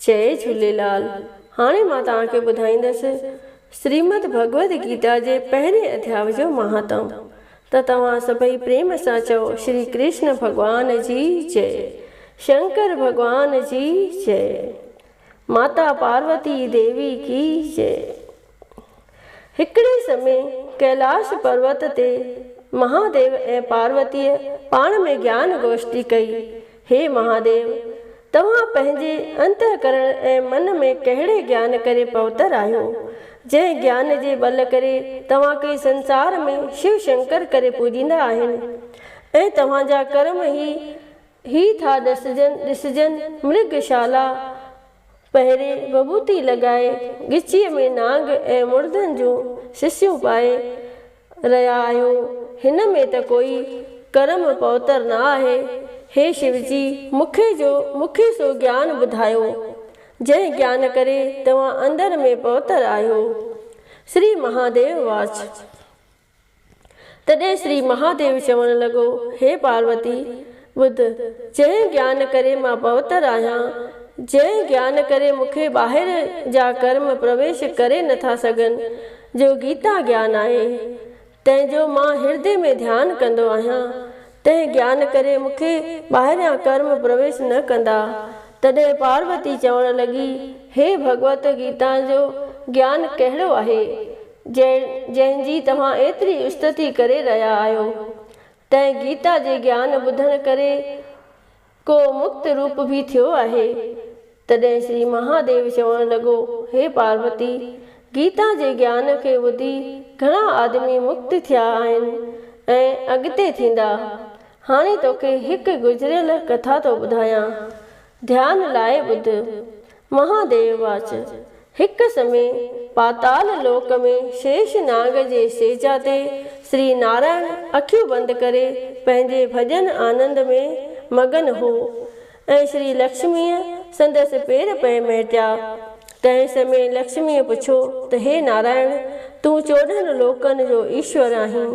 جئي جهوليلال هاڻي مان توهان کي ٻڌائيندس سريمد ڀڳوت گيتا جي پهرين اڌياء جو مهاتم ته توهان سڀئي پريم سان چئو شري ڪرشن ڀڳوان جي جئي شنڪر ڀڳوان جي جئي ماتا پاروتي ديوي ڪي جئي. هڪڙي سمي ڪيلاش پروت تي مهاديو ۽ پاروتيء پاڻ ۾ گيان گوشٽي ڪئي، هي مهاديو! توهان پنهنجي انتهڪرڻ ۽ من ۾ ڪهڙي گيان ڪري پهتر آهيو، جنهن گيان جي ٻل ڪري توهان کي سنسار ۾ شو شنڪر ڪري پوڄيندا آهن ۽ توهان جا ڪرم هي هي ٿا ڏسجن ڏسجن مرگ شالا، پهرين وڀوتي لڳائي، ڳچيء ۾ نانگ ۽ مڙدن جون سسيون پائي رهيا آهيو. هن ۾ ته ڪوئي ڪرم پوتر نه آهي. هي شوجي، مونکي جو مونکي سو گيان ٻڌايو، جنهن گيان ڪري توهان اندر ۾ پوتر آهيو. سري مهاديو واچ. تڏهن شري مهاديو چوڻ لڳو، هي پاروتي! ٻڌ، جنهن گيان ڪري مان پوتر آهيان، جنهن گيان ڪري مون کي ٻاهر جا ڪرم پرويش ڪري نه ٿا سگهن، جو گيتا گيان آهي، تنهن جو مان هردي ۾ ڌيان ڪندو آهيان، تنهن گيان ڪري مون کي ٻاهريان ڪرم پرويش نه ڪندا. تڏهن پاروتي چوڻ لڳي، هي ڀڳوت! گيتا جو گيان ڪهڙو آهي؟ جنهن جنهن جي توهان ايتري استتي ڪري رهيا آهيو، تنهن گيتا جي گيان ٻڌڻ ڪري ڪو مڪت روپ به ٿيو آهي. تڏهن شري مهاديو چوڻ لڳو، هي پاروتي! گيتا جي گيان کي ٻڌي گهڻا آدمي مڪت ٿيا آهن ۽ اڳتي ٿيندا. هاڻي توکي هڪ گذريل ڪٿا ٿو ٻڌايان. ڌيان لاء ٻڌ. مهاديو واچ، هڪ سمي پاتال لوڪ ۾ شيش ناگ جي سيجا تي سري نارائڻ اکيون بند ڪري پنهنجي ڀڄن آنند ۾ مگن هو ۽ شري لڪشميء سندس پير پئي مهٽيا. تنهن سمي لڪشميء پڇيو ته هي نارائڻ! تون چوڏهن لوڪن جو ايشور آهين،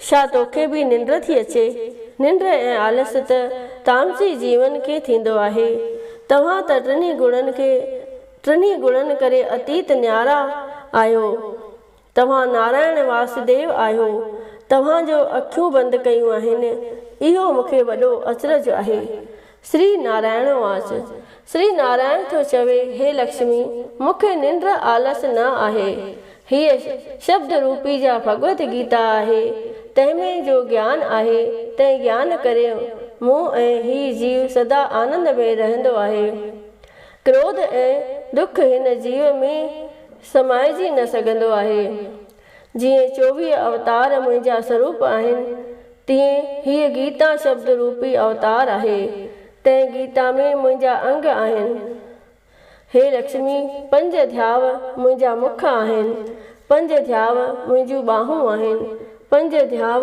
ڇا توکي به ننڊ ٿي اچي؟ ننڊ ۽ آلس ته تامسي جيون کي ٿيندو آهي. توهان ته ٽنهي گڻن کي ٽنهي گڻن ڪري اتيت نيارا آهيو. توهان نارائڻ واسديو آهيو. توهان جو اکيون بند ڪيون آهن. اهو مونکي وڏو اچرج آهي. سري نارائڻ واچ سري نارائڻ ٿو چوي هي لڪشمي مون کي ننڊ آلس نه آهي. هيء شبد روپي جا ڀڳوت گيتا آهي، تنهن ۾ جو گيان آهي، تنهن گيان ڪري مون ۽ هي جيو سدا آنند ۾ رهندو آهي. ڪروڌ ۽ ڏک هن جيو ۾ سمائجي نه سگهندو آهي. جيئن چوويهه اوتار منهنجا سروپ آهن، تيئن هيء گيتا شبد روپي اوتار آهي. تنهن گيتا ۾ منهنجا انگ آهن. هي لڪشمي، پنج ڌياء منهنجا مک آهن، پنج ڌياء منهنجون ٻانهون آهن، پنج ڌياء.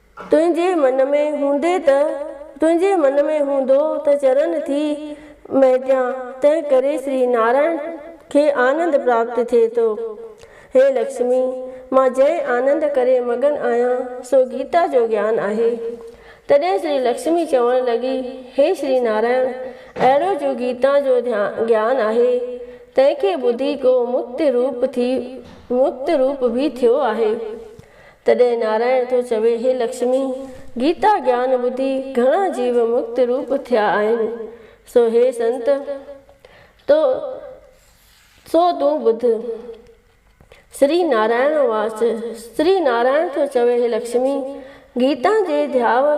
تنهنجي من ۾ هوندي ته تنهنجي من ۾ هوندو ته چرن ٿي مهٽيان، تنهن ڪري شري نارائڻ کي آنند پراپت ٿئي ٿو. هي لڪشمي! مان جنهن آنند ڪري مگن آهيان، سو گيتا جو گيان آهي. تڏهن شري لڪشمي چوڻ لڳي، هي شري نارائڻ! اهڙو جو گيتا جو گيان آهي، تنهن کي ٻڌي ڪو مڪت روپ ٿي مڪت روپ به ٿيو آهي. تڏهن نارائڻ ٿو چوي، هي لڪشمي! گيتا گيان ٻڌي گهڻا جيو مڪت روپ ٿيا آهن، سو هي سنت! تو سو تون ٻڌ. سري نارائڻ واچ، سري نارائڻ ٿو چوي، هي لڪشمي! گيتا جي ڌياء،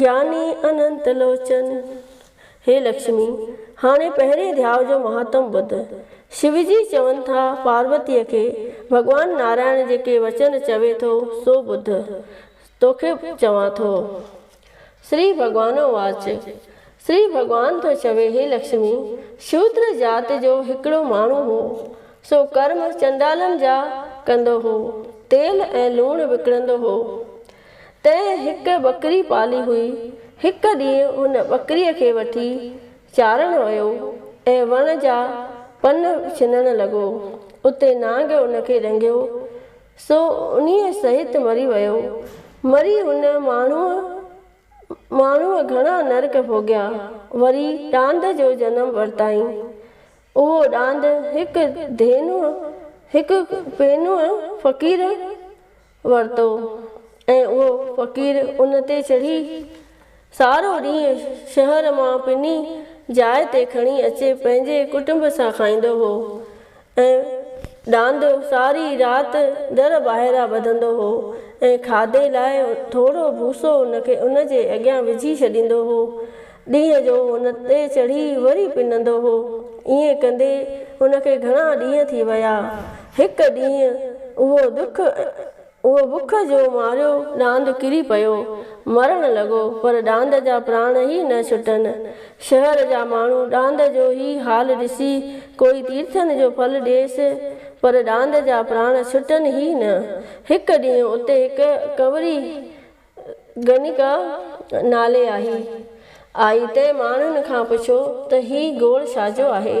گياني اننت لوچن. هي لڪشمي! هاڻي پهرين ڌياء جو مهاتم ٻڌ. شو جي چون ٿا پاروتيء کي، ڀڳوان نارائڻ جيڪي وچن چوي ٿو سو ٻڌ. توکي چوان ٿو. شري ڀڳوانو واچ. شري ڀڳوان ٿو چوي هي لڪشمي! شودر ذات جو هڪڙو ماڻهو هو. سو ڪرم چنڊالن جا ڪندو هو. تيل ۽ لوڻ وڪڻندو هو. تنهن هڪ ٻڪري پالي هئي. هڪ ڏينهن هن ٻڪريء کي وٺي چارڻ ويو ۽ وڻ جا پن ڇنڻ لڳو. اتي نانگ ان کي ڏنگيو، سو انهيء سهت مري ويو. مري هن ماڻهوء ماڻهوء گهڻا نرڪ ڀوڳيا. وري ڏاند جو جنم ورتائين. اهو ڏاند هڪ ڌينوء، هڪ پينوء فقير، ورتو ۽ اهو فقير ان تي چڙهي سارو ڏينهن شهر مان پني جاء تي کڻي اچي پنهنجي ڪٽنب سان کائيندو هو ۽ ڏاندو ساري رات در ٻاهران ٻڌندو هو ۽ کاڌي لاء ٿورو ڀوسو ان کي ان جي اڳيان وجهي ڇڏيندو هو ڏينهن جو هن تي چڙهي وري پنندو هو. ائين ڪندي هن کي گهڻا ڏينهن ٿي ويا. هڪ ڏينهن اهو دک اهو بک جو ماريو ڏاند ڪري پيو. مرڻ لڳو پر ڏاند جا پراڻ ئي نه ڇٽن. شهر جا ماڻهو ڏاند جو هي حال ڏسي ڪوئي تيرٿن جو ڦل ڏيس پر ڏاند جا پراڻ ڇٽن ئي نه. هڪ ڏينهن اتي هڪ ڪنوري گنيڪا نالي آهي. آئي ٽي ماڻهن کان پڇيو ته هي گوڙ ڇاجو آهي؟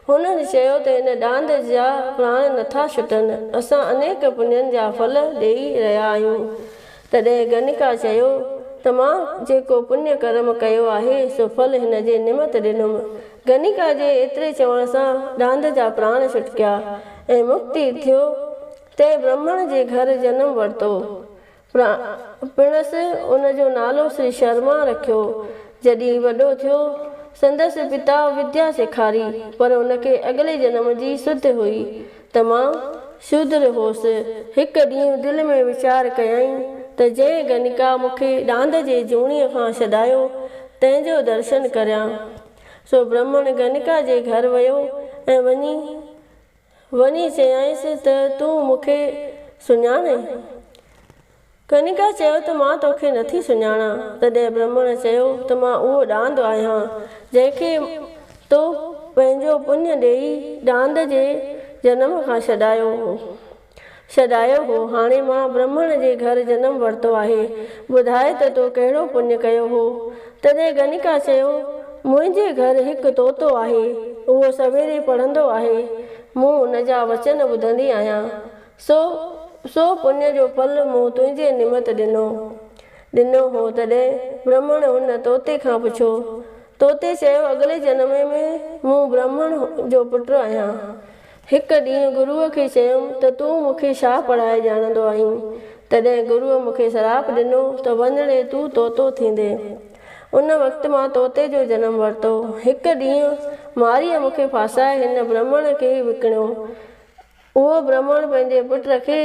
هنن چيو ته هن ڏاند جا پراڻ نٿا ڇٽن، اسان انيڪ پڃن جا ڦل ڏيئي رهيا آهيون. تڏهن گنيڪا چيو ته مان جيڪو پڃ ڪرم ڪيو آهي سو ڦل هن جي نمت ڏنم. گنيڪا جي ايتري چوڻ سان ڏاند جا پراڻ ڇٽڪيا ۽ مڪتي ٿيو. تنهن برهمڻ جي گهر جنم ورتو. پڻس ان جو نالو سري شرما رکيو. جڏهن وڏو ٿيو، سندس پتا وديا سيکاري، پر ان کي اڳلي جنم جي سڌ هئي ته مان شودر هوس. هڪ ڏينهن دل ۾ ويچار ڪيائين ته جنهن گنيڪا مون کي ڏاند جي جوڻيء کان ڇڏايو، تنهن جو درشن ڪريان. سو برهمڻ گنيڪا جي گهر ويو ۽ وڃي وڃي چيائينس ته تون مون کي سڃاڻي؟ ڪنيڪا چيو ته مان توکي نٿي سڃاڻان. تڏهن برهمڻ چيو ته مان اهو ڏاند آهيان جنهن کي تو پنهنجو پڃ ڏيئي ڏاند جي جنم کان ڇڏايو هو. سڏايو هو، هاڻي مان برهمڻ جي گهر جنم ورتو آهي، ٻڌاء ته تو ڪهڙو پڃ ڪيو هو؟ تڏهن گنيڪا چيو، منهنجي گهر هڪ طوطو آهي، اهو سويري پڙهندو آهي، مون ان جا وچن ٻڌندي آهيان، سو سو پڃ جو ڦل مون تنهنجي نمت ڏنو ڏنو هو، تڏهن برهمڻ ان طوطي کان پڇيو، طوطي چيو اڳلي جنم ۾ مون برهمڻ جو پٽ آهيان، هڪ ڏينهن گروء کي چيم ته تون مون کي شاهه پڙهائي ڄاڻندو آهين. تڏهن گروء مون کي سراپ ڏنو ته وڃڻي تون طوطو ٿيندين. ان وقت مان طوطي جو جنم ورتو. هڪ ڏينهن مارئيء مون کي ڦاسائي هن برهمڻ کي وڪڻيو. اهو برهمڻ پنهنجي پٽ کي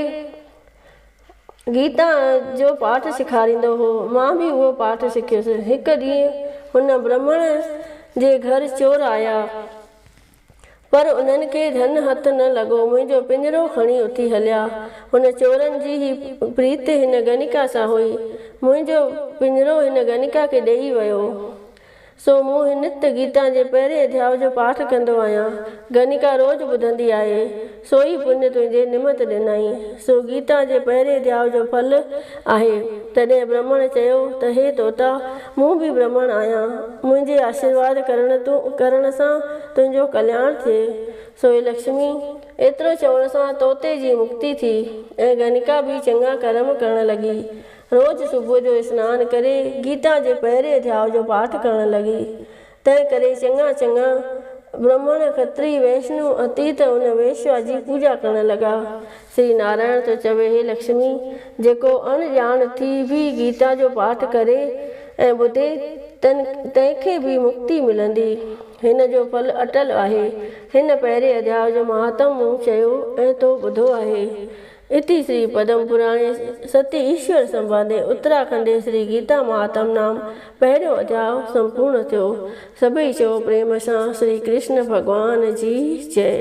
گيتا جو پاٺ سيکاريندو هو. مان به اهو پاٺ سکيس. هڪ ڏينهن هن برهمڻ جي گهر چور آيا. پر انهن کي ڌن هٿ نه لڳو، منهنجو پڃرو کڻي اٿي هليا. هن چورن جي هي پريت هن گنيڪا سان هئي. منهنجو پڃرو هن گنيڪا کي ڏيئي ويو. سو مون هي نت گيتا جي پهرين اڌياء جو پاٺ ڪندو آهيان. گنيڪا روز ٻڌندي آهي. سوئي پڃ تنهنجي نمت ڏنائين. سو گيتا جي پهرين دياء جو ڦل آهي. تڏهن برهمڻ چيو ته هي طوطا مون به برهمڻ آهيان. منهنجي آشيرواد ڪرڻ تون ڪرڻ سان تنهنجو ڪلياڻ ٿئي. سوئي لڪشمي ايترو چوڻ سان طوطي جي مڪتي ٿي ۽ گنيڪا به چڱا ڪرم ڪرڻ لڳي. روز صبح جو اسنان ڪري گيتا جي پهرين دياء جو پاٺ ڪرڻ لڳي. تنهن ڪري چڱا چڱا برهمڻ، کتري، ويشنو، اتيت ان ويشوا جي پوڄا ڪرڻ لڳا. سري نارائڻ ٿو چوي هي لڪشمي! جيڪو اڻ ڄاڻ ٿي به گيتا جو پاٺ ڪري ۽ ٻڌي، تن تنهن کي به مڪتي ملندي. هن جو ڦل اٽل آهي. هن پهرين اڌياء جو مهاتم مون چيو ۽ تو ٻڌو آهي. اتي شري پدم پراڻي ستي ايشور سنباندي اتراکنڊي شري گيتا مهاتم نام پهريون اڌياء سمپورڻ ٿيو. سڀئي چئو پريم سان شري ڪرشن ڀڳوان جي جئي.